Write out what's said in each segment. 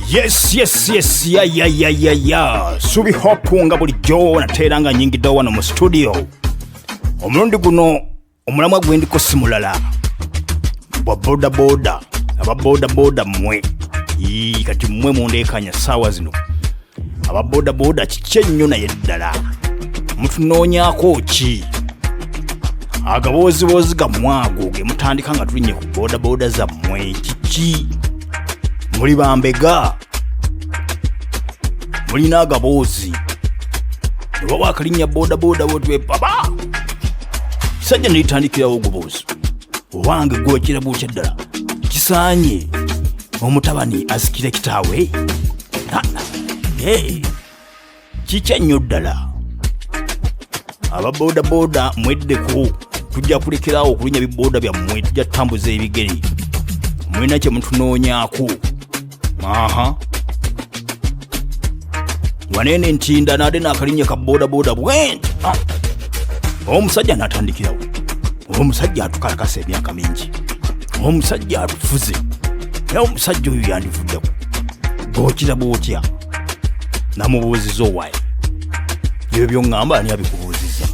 yes yes yes ya ya ya ya ya subi hope nga bulijjo nateera nga nyingiddewo wano mu studio omulundi guno omulamwa gwe ndiko si mulala bwa bodaboda aba bodaboda mmwe Ii, kati mmwe mundeekanya saawa zino aba bodaboda kiki ennyo naye ddala mutunoonyako ki agabooziboozi gammwe ago ge mutandika nga tulinye ku bodaboda zammwe kiki muli bambega mulina agaboozi oba wakalinnya bodaboda wotwepaba kisajja nelitandikirawo oguboozi owange gwokira bwokya ddala kisaanye omutabani asikire kitaawe kikya nnyo ddala aba bodaboda mweddeko tujja kulekerawo okulinya biboda byammwe tujja tutambuza ebigere mulina kye mutunoonyako aha waneene ntinda naade naakalinya ka bodaboda bwenti ah. omusajja natandikirawo omusajja atukalakasa emyaka mingi omusajja alufuze naye omusajja oyo yandivuddeko bwokiraba otya namubuuziza owaye ebyo byoŋŋamba ani abikubuuziza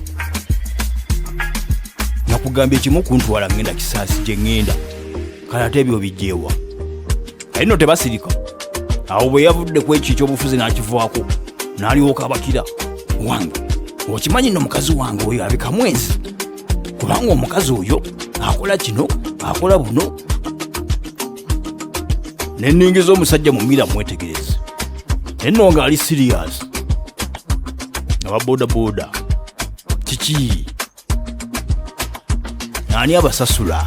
nakugambye kimu kuntwala ŋŋenda kisaasi gye ŋŋenda kale ate ebyo bijjeewa naye no tebasirika awo bwe yavudde ku ekyo ekyobufuzi n'akivaako n'alyoka abakira wange okimanyi no mukazi wange oyo abika mwezi kubanga omukazi oyo akola kino akola buno neningiza omusajja mumira mwetegereze naye no nga ali siriyasi aba bodaboda kiki ani abasasula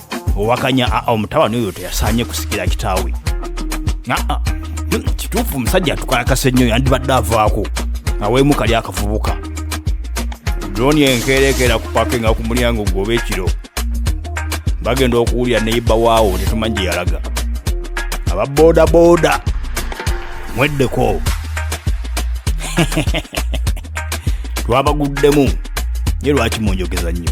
owakanya aa ah, ah, omutabani oyo teyasaanye kusikira kitaawe aa hmm, kituufu omusajja atukalakasa ennyo yandibadde avaako aweemu kali akavubuka droni enkeerekeera ku pakinga ku mulyango gwoba ekiro bagenda okuwulira neyiba waawo tetumanyi gye yalaga aba bodaboda mweddeko twabaguddemu ye lwaki munjogeza nnyo